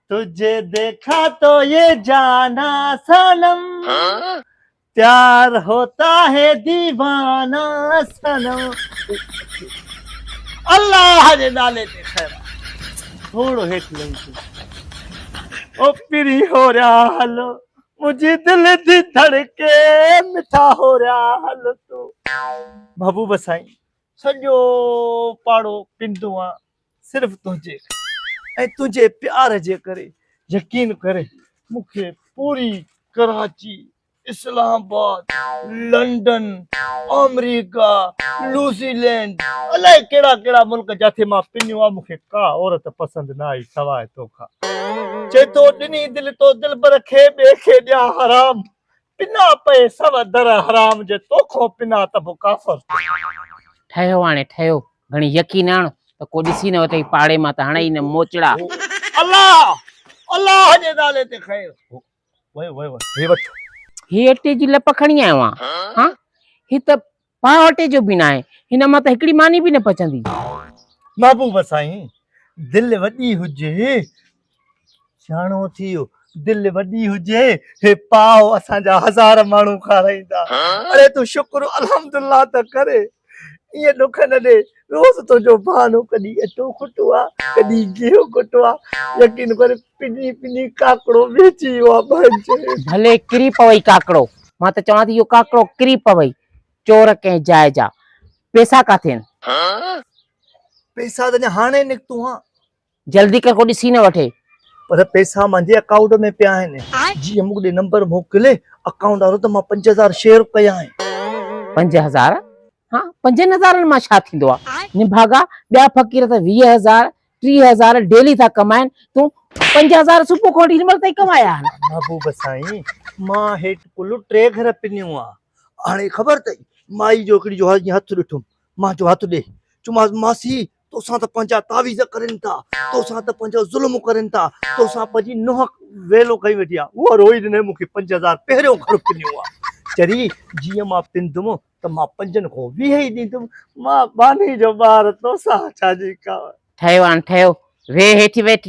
تجھے ديکھا تو یہ جانا صنم پيار ہوتا ہے ديوانا صنم الله جي نالي تي خيرا ٿورو هيٺ لهي ٿي او پري هو ريا هلو منهنجي دل جي ڌڙڪي مٺا هو ريا هلو تو محبوب سائين سڄو پاڙو پنڊون آ صرف تنهنجي ۽ تنهنجي پيار جي ڪري يقين ڪري مون کي پوري ڪراچي اسلام آباد لنڊن آمريڪا لوزي لينڊ الاء ڪهڙا ڪهڙا ملڪ جاٿي مان پنيو آ مون کي ڪا عورت پسند نه آئي سواء توکان چئي ٿو ڏني دل تو دلبر کي ٻئي کي ڏيان حرام پنا پئي سو در حرام جي تو کون پنا ته به ڪافر ٿي. ٺهيو هاڻي ٺهيو گهڻي يڪي نه هڻ ته ڪو ڏسي نه وتئي پاڙي مان ته هڻئي هي نه موچڙا. هو الله الله جي نالي تي کئي هو ويو ويو هي وٺ. هي اٽي جي لپ کڻي آيو آهيان هان هي ته پاڻ اٽي جو بي ناهي. هن مان ته هڪڙي ماني به نه پچندي. محبوب سائين دل وڏي هجي سياڻو ٿيو دل وڏي هجي هي پاو اسان جا هزار ماڻهو کارائيندا اڙي تون شڪر الحمد الله ته ڪر ايئن ڏک نه ڏي روز تنهنجو بهانو ڪڏهن اٽو کوٽو آ ڪڏهن گيهو کوٽو آ يقين ڪر پني پني ڪاڪڙو ويچي ويو آ ڀائجي. ڀلي ڪري پوي ڪاڪڙو. مان ته چوان ٿي اهو ڪاڪڙو ڪري پوي. چور ڪنهن جاء جا. پيسا ڪاٿي ان. پيسا ته اڃا هاڻي نڪتون ها. جلدي ڪر ڪو ڏسي نه وٺي. پر پيسا منهنجي اڪائونٽ ۾ پيا آهن. جي ايم ڏي نمبر موڪلي اڪائونٽ وارو ته مان پنج هزار شيئر ڪيا آهن. پنج هزار ها پنجن هزارن مان ڇا ٿيندو آ. نڀاڳا ٻيا فقير ته ويهه هزار ٽيهه هزار ڊيلي ٿا ڪمائن تون پنج هزار صبح کان وٺي هن مهل تائين ڪمايا آهن. محبوب سائين مان هيٺ ڪل ٽي گهر پنيون آ هاڻي خبر ٿئي مائي جو هڪڙي جو هاڻي جيئن هٿ ڏٺم مان چيو هٿ ڏي چيومانس ماسي توسان ته پنهنجا تعويذ ڪرين ٿا توسان ته پنهنجو ظلم ڪرين ٿا توسان پنهنجي نوح ويلو کڻي ويٺي آ اها روئي ڏني مون کي پنج هزار پهريون گهر پنيون آ چري جيئن مان پندم ته مان پنجن کون ويهه ئي ڏيندم. مان ٻانهي جو ٻار توسان ڇا جي ڪاوڙ. ٺهيو آن ٺهيو. ويهه هيٺ ويٺ.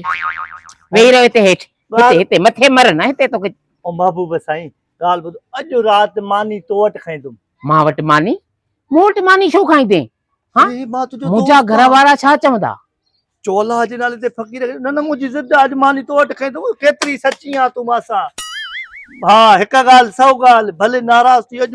ويهي رهو هتي هيٺ. هتي هتي مٿي مر نه هتي توکي. او محبوب سائين ڳالهه ٻڌ. اڄ رات ماني تو وٽ کائيندم. مان وٽ ماني؟ مون وٽ ماني ڇو کائيندين؟ ها؟ منهنجا گهر وارا ڇا چوندا؟ چولاء جي نالي تي فقير. نه نه منهنجي ضد آهي اڄ ماني تو وٽ کائيندم. ڪيتري سچي آن تون مان سان. ها هڪ ڳالهه سو ڳالهه. ڀلي ناراض ٿي اڄ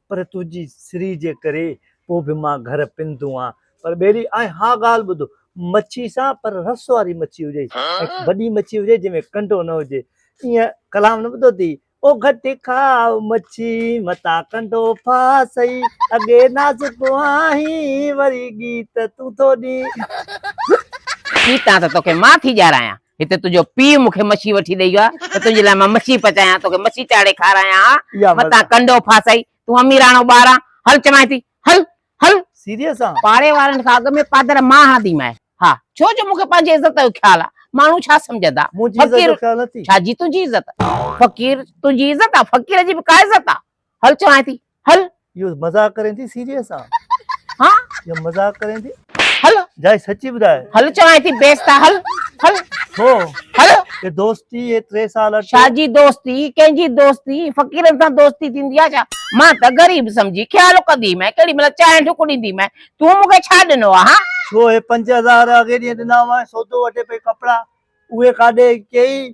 پر تنهنجي سري جي ڪري پوء به مان گهر پنڌون آ. پر ٻيلي آء اها ڳالهه ٻڌ، مڇي سان پر رس واري مڇي هجي ۽ وڏي مڇي هجي جنهن ۾ ڪنڊو نه هجي. ائين ڪلام نه ٻڌو اٿئي. او گهٽي کاء مڇي، متان ڪنڊو ڦاسئي، اڳي نازڪ آهين، وري ڳيت تون ٿو ڏين. ڳيتان ته توکي مان ٿي ڄارايان. هتي تنهنجو پيء مون کي مڇي وٺي ڏئي ويو آهي ته تنهنجي لاء مان مڇي پچايان، توکي مڇي چاڙهي کارايان ها، اها مزه متان آهي. ڪنڊو ڦاسئي، تون اميراڻو ٻار آن، هل چوانء ٿي، هل، هل! سيريس آن؟ پاڙي وارن کان اڳ ۾ پادر مان هڻنديمانء ها، ڇو جو مون کي پنهنجي عزت جو خيال آ، ماڻهو ڇا سمجهندا؟ منهنجي عزت فقير، جو خيال نٿي؟ ڇا جي تنهنجي عزت؟ فقير، تنهنجي عزت آ، فقير جي به ڪا عزت آ؟ هل چوانء ٿي هل. اهو مذاق ڪرين ٿي سيريس آ. ها يا مذاق ڪرين ٿي. هل. جاء سچي ٻڌاء. هل چوانء ٿي بيست آ هل هل. ڇو؟ هل. اي دوستي اي ٽي سال اٽ. ڇا جي دوستي ڪنهن جي دوستي فقيرن سان دوستي ٿيندي آ ڇا مان ته غريب سمجهي خيال ڪندي مئين ڪهڙي مهل چانهه ڍڪ ڏيندي مئين تون مون کي ڇا ڏنو آ ها. ڇو اي پنج هزار اڳي ڏينهن ڏنا هئائين سودو وٺي پئي ڪپڙا اهي ڪاڏي ڪيئي.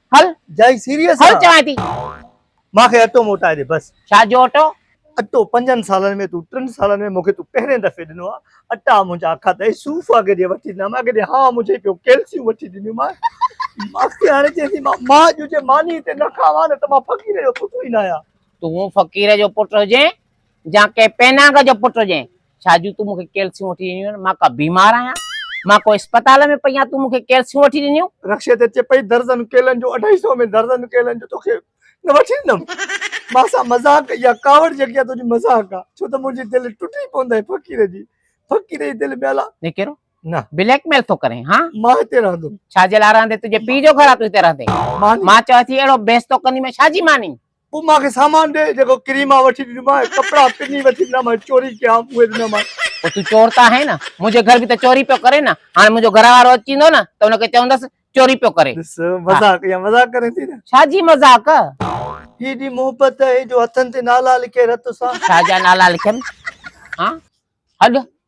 هل جائي سيريس هل چوان ٿي ماکي اٽو موٽائي ڏي بس ڇا جو اٽو اٽو پنجن سالن ۾ تون ٽن سالن ۾ مونکي تون پهرين دفعي ڏنو آ اٽا منهنجا کاڌئي صوف اڳ جي وٺي ڏنا مان ڪڏهن ها منهنجي پيو ڪيلسيون وٺي ڏنيون مان ماکي هاڻي چئين ٿي مان ماء جو جي ماني تي نه کاوان ته مان فقير جو پٽ ئي نه آهيان تون فقير جو پٽ هجين جا ڪنهن پيناگ جو پٽ هجين. ڇا جو تون مون کي ڪيلسيون وٺي ڏنيون آهن؟ مان ڪا بيمار آهيان؟ مان ڪو اسپتال ۾ پئي آهيان تون مون کي ڪيلسيون وٺي ڏنيون؟ رڪشي تي چپئي درزن ڪيلن جو اڍائي سئو ۾ درزن ڪيلن جو توکي نه وٺي ڏنم؟ مان سان مذاق اها ڪاوڙ جيڪي آهي تنهنجي مذاق آهي ڇو ته منهنجي دل ٽٽي پوندئي ڦقير جي ڦقير جي دل ۾ الا نڪيرو نه بليڪ ميل ٿو ڪرين ها؟ مان هتي رهندم. ڇا جي لاء رهندين تنهنجي پيء جو گهر آهي تون هتي رهندين؟ ماني. مان چويو ٿي اهڙو بحث ٿو ڪندين ۾ ڇا جي مانين؟ پوء مان کي سامان ڏي جيڪو ڪري مان وٺي ڏنومانء ۽ ڪپڙا پني وٺي ڏنام ۽ چوري ڪيام اهي ڏنومانء. پوء تون چور ته آهين نه، منهنجي گهر به ته چوري پيو ڪري نه، هاڻي منهنجو گهر وارو اچي ويندو نه ته ان کي چوندس چوري پيو ڪري. ڏس مذاق اها مذاق ڪرين ٿي نه. ڇا جي مذاق؟ هي ايڏي محبت اهي جو هٿن تي نالا لکي رت سان. ڇا جا نالا لکيم ها هڏ.